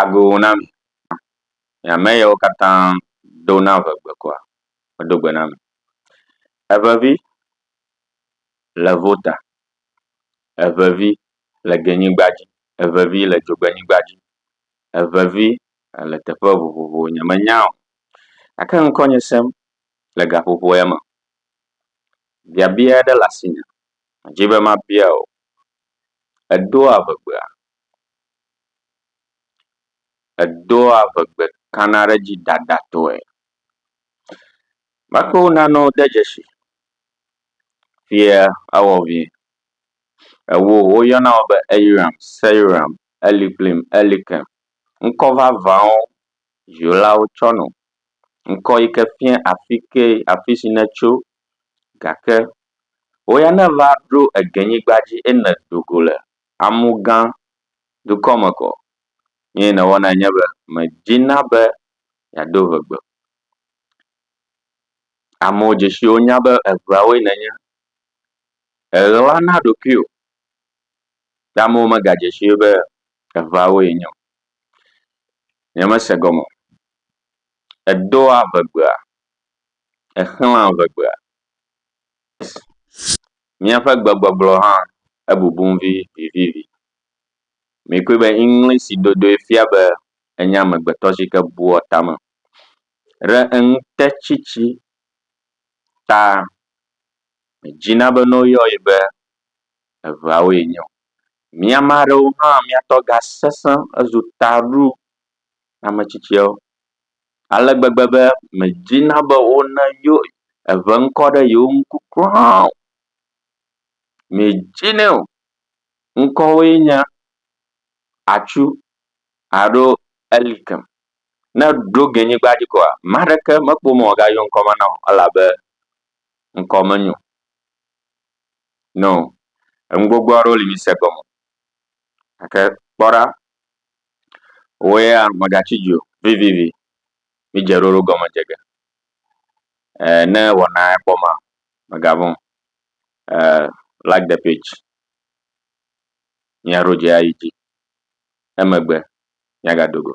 Ago na mi. Nye ame yawo katã do na ve gbe kɔa? Medo gbe na mi. Evevi le vo ta. Evevi le genyigba dzi. Evevi le dzogbenyigba dzi. Evevi le teƒe vovovowo. Nye menya o. Gake ŋkɔnye sem le gaƒoƒo ya me. Biabia aɖe le asinye. Medi be mabia wò. Èdoa ve gbea? Edoa ŋegbe kana ɖe edzi dadatɔe. Mekɔ wo nanewo de dzesi fia ewɔ vie. Ewo woyɔna wo be eyiram, seyiram, elikplim, elikem. Ŋkɔ vavãwo dzilawo tsɔ nɔ. Ŋkɔ yi ke fia afi ke afi si netso gake wo ya ne va ɖo egenyigba dzi eye ne do go le amu gã dukɔ me kɔ. Nu yi nèwɔnae nye be mèdina be yeado ŋegbe o. Amewo dze si wo nya be eŋeawoe nènye. Èɣlana ɖokuiwò ye amewo megadze sii be eŋeawoe nye o. Nyemese gɔme o. Èdoa ŋegbea? Èxlãa ŋegbea? Míaƒe gbegbɔgblɔ hã ebubum vivivi. Mikpɔe be Eŋlisi dodoe fia be enye amegbetɔ si ke bua tame ɖe eŋutetsitsi ta. Medzina be ne woyɔ ye be eveawoe nye o. Mi ame aɖewo hã mia tɔ gasesẽ hezu taɖo ame tsitsiawo. ale gbegbe be medina be wone yo eŋe ŋkɔ ɖe yewo ŋku kura o. Medinɛ o. Ŋkɔwoe nye atsu alo elikɛ. Ne ɖo ge nyigba dzi koa ame aɖeke mekpɔ be woagayɔ ŋkɔ ma nam o elabe ŋkɔ menyo nam o. Enu gbogbo aɖewo li mí se gɔme o gake kpɔ ɖa. Wò ya mègatsi dzi o vivivi. Mídze ɖoɖo gɔme dze ge. Eh, ne wɔna ya kpɔ ma, mègavɔ̃ o. Eh, like the page. Mía ɖo dze ayi dzi. Emegbe mía gado go.